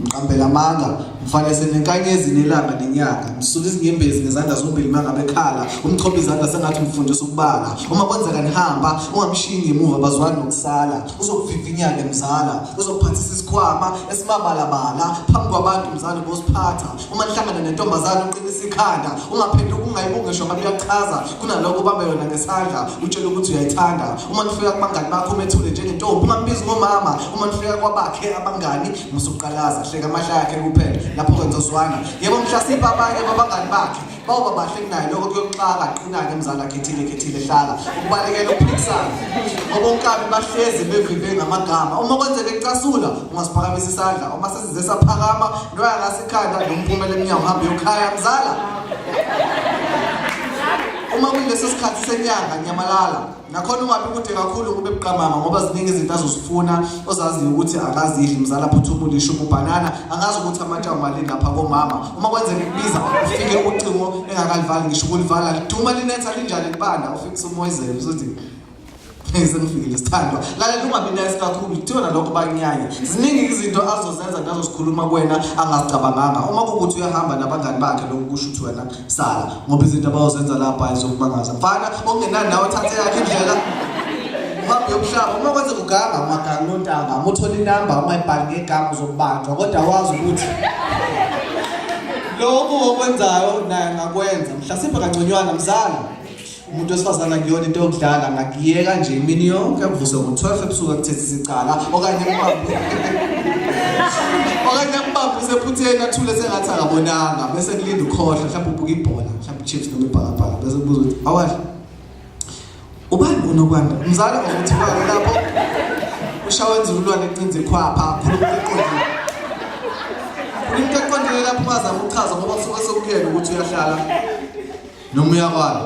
mqambela amanga mfanese nenkanyezi nelanga nenyanga msula izinyembezi ngezandla zombili manga bekhala umchopha izandla sengathi umfundisa ukubala uma kwenzeka nihamba ungamshiyi ngemuva bazwani nokusala uzokuvivinyane mzala uzokuphathisa isikhwama esimabalabala phambi kwabantu mzala bosiphatha uma nihlangana nentombazane uqinisa ikhanda ungaphendi ukungayibuki ngisho ngabe uyachaza kunalokho ubambe yona ngesandla utshela ukuthi uyayithanda uma nifika kubangani bakho umethule njengentombi ungambizi ngomama uma nifika kwabakhe abangani musuqalaza hleka amahla yakhe kuphela lapho-ke nizozwana yebo mhlasimpe abanye babangani bakhe Bawuba bahle kunaye lokho kuyoxaka qinake mzala khethile khethile hlala ukubalekela ukuphikisana ngoba onkabi bahlezi bevive ngamagama uma kwenzeka ecasula ungasiphakamisa isandla uma sesize saphakama noya ngasikhanda nomphumela emnyango hambe yokhaya mzala uma kuleso sikhathi senyanga nyamalala nakhona ungabi kude kakhulu ukube buqamama ngoba ziningi izinto azozifuna ozaziyo ukuthi akazidli mzala phuthuma ulisho ububhanana angazi ukuthi amatshawu mali ngapha komama uma kwenzeka kubiza ufike ucingo engakalivali ngisho ukulivala liduma linetha linjani libanda ufike usumoyizele usuthi sengifikile sithandwa lalela ungabi nice kakhulu kuthiwa nalokho banyanye ziningi izinto azozenza nazosikhuluma kuwena angazicabanganga uma kukuthi uyahamba nabangani bakhe lokhu kusho ukuthi wena sala ngoba izinto abayozenza lapha ayizokumangaza mfana ongenani nawe thathe yakhe indlela uhambe yomhlaba uma kwenze kuganga ungaganga unontanga uma uthola inamba uma ibhali ngegama uzokubanjwa kodwa wazi ukuthi lokhu okwenzayo naye angakwenza mhlasimbe kangconywana mzala umuntu wesifazane akuyona into yokudlala ngakuyeka nje imini yonke kuvuse ngo-12 ebusuku akuthethe isicala okanye mbambe okanye ambambe usephutheni athule sengathi akabonanga bese kulinda ukhohlwa mhlawumbe ubuka ibhola mhlawumbe chips noma ibhakabhaka bese kubuza ukuthi awadla ubani unokwanda umzala ukuthi bani lapho ushawa enzululwane ecinza ikhwapha khuluma eqondile khuluma eqondile lapho ungazama ukuchaza ngoba kusuke sekuyena ukuthi uyahlala noma uyakwala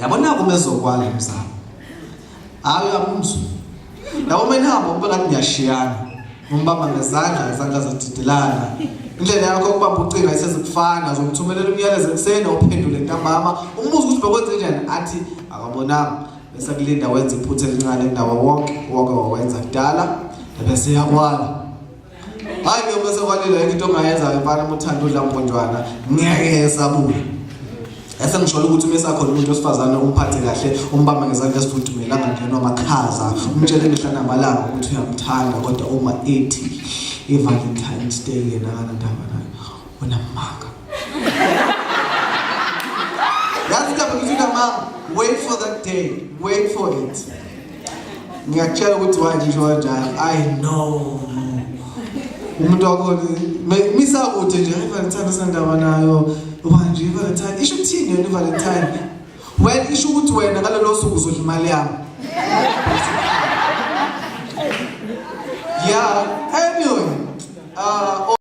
yabona kuma ezokwala emzala hayi uyamuzwa yabo uma nihamba ukuba ngathi niyashiyana umbamba ngezandla izandla zididilana indlela yakho ukubamba ucinga isezikufana zomthumelela umyalezo ekuseni ophendule ntambama umbuzo ukuthi bekwenze njani athi akabonanga bese kulinda wenza iphutha elincane ndawo wonke wonke wawenza kudala bese yakwala hayi ke bese kwalila into ongayenza ke mfana uthanda udla mponjwana ngeke esabuye esengishola ukuthi uma esakhona umuntu wesifazane umphathe kahle umbamba ngezandla esifudumele angangenwa amakhaza umtshele imihla namalanga ukuthi uyamthanda kodwa uma ethi i-valentines day yena akanandaba nayo unamanga yazi lapho ngithi unamanga wait for that day wait for it ngiyakutshela ukuthi wanje isho kanjani i know umuntu wakhona misakude nje ivalentine asandaba nayo wanje ivalentine isho ukuthini yona ivalentine well isho ukuthi wena ngalelo suku uzodla imali yami yeah anyway uh,